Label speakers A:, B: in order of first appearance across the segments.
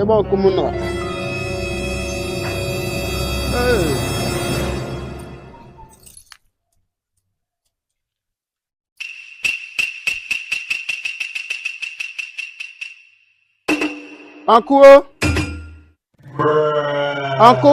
A: ebe ọkụ m nọ ọkụ o ọkụ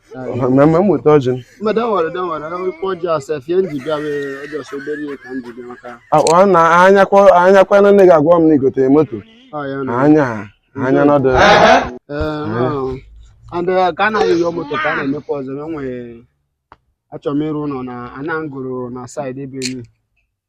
B: mmemme m weta ọjị
A: na ụnyaa
B: kwa na nne gị agwa m na i gotere moto anya anya
A: nọdụ ka a na-ayọ yọ moto ka a na-emekwa ọzọ e nwere achọrọ m ịrụ ụlọ na ana ngụrụ na side ebe elu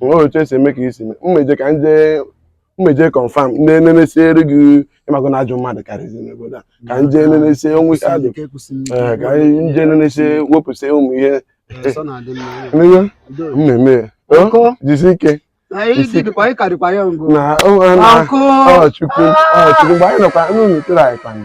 B: nwere otu e si eme ka i si mee mmeje ka nje mmeje confirm nenesiere gị ị mago na ajọ mmadụ karịzi n'obodo a ka nje nenesie o nwee ihe ajụ ee ka anyị nje nenesie wepụsịa ụmụ ihe n'ihe mmemme ya o jisi ike na ọ na ọ chukwu ọ chukwu mgbe anyị nọkwa n'ụlọ tere anyị kwanụ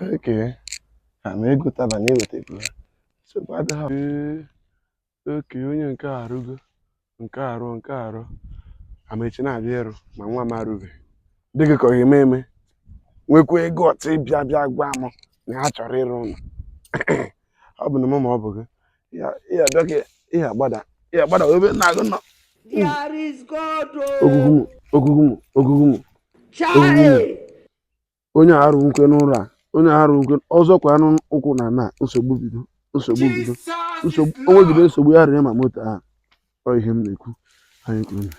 B: Okay. Ha na-egotaba na-eweta ego ha. Nsogbu adịghị. Ee. Okay, onye nke a arụgo. Nke a arụ, nke a arụ. Amechi na-abịa ịrụ ma nwa m arụbe. Ọ dịghị ka ọ ga-eme eme. Nwekwa guts ịbịa bịa gwa m na ha chọrọ ịrụ ụlọ. Ọ bụ na mụ ma ọ bụ gị. Ihe abịa ka ihe agbada. Ị ya-agbada ebe nna gị nọ. Ogwugwu m, Ogwugwu m, Ogwugwu m. Chai! onye a arụ nke ya n'ụlọ a onye a arụ nke ọzọ kwa anụ ụkwụ na na nsogbu bido nsogbu bido nsogbu o nwegide nsogbu ya ree ma moto ahụ ọ ihe m na-ekwu anyị kwuru na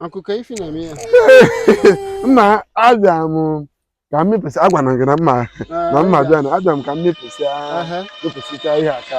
A: akụkọ ifo na-eme ya
B: mma abịa m ka m mepụsị agwa na gị na mma na mma bịa na abịa m ka m mepụsị Aha. mepụsịcha ihe a ka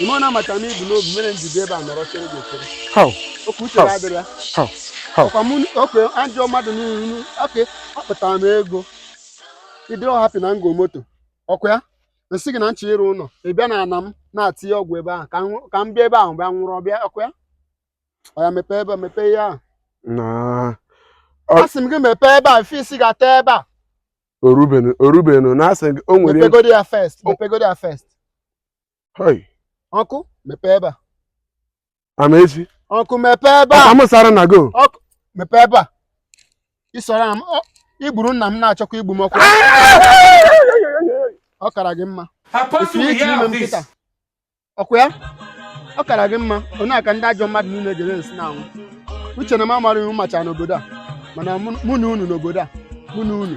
A: ime ọ na-amata m i bu n'obi mere m ji bịa ebe a nọrọ chere gị echere How? okay uche How? adịrọ ya How? How? ọkwa mụ oke ajọ mmadụ niile okay akpatara m ego ị dịrọ happy na m go moto ọkwa ya m sị gị na m chọ ịrụ ụlọ ị bịa n'ana m na-atinye ọgwụ ebe ahụ ka m nwụ- ka m bịa ebe ahụ bịa nwụrụ ọbịa ọkwa ya ọ ya mepee ebe a mepee ihe ahụ Nah. Ọ- asị m gị mepee ebe a first ị ga-ata ebe a
B: orubenu orubenu na asị gị o nwere mepegodi ya first
A: O- mepegodi ya first hoi uncle mepee ebe a
B: amaechi uncle
A: mepee ebe a amasara na go uncle
B: mepee ebe
A: a isoro m ọ- i gburu nna m na-achọkwa igbu m uncle ọ kara gị mma ife ị na-eme m kịta ọkwa ya ọ kara gị mma ọ ya ka ndị ajọ mmadụ niile ga-esi na-anwụ uche na m amara iwu macha n'obodo a mana mụ- mụ na unu n'obodo a mụ na unu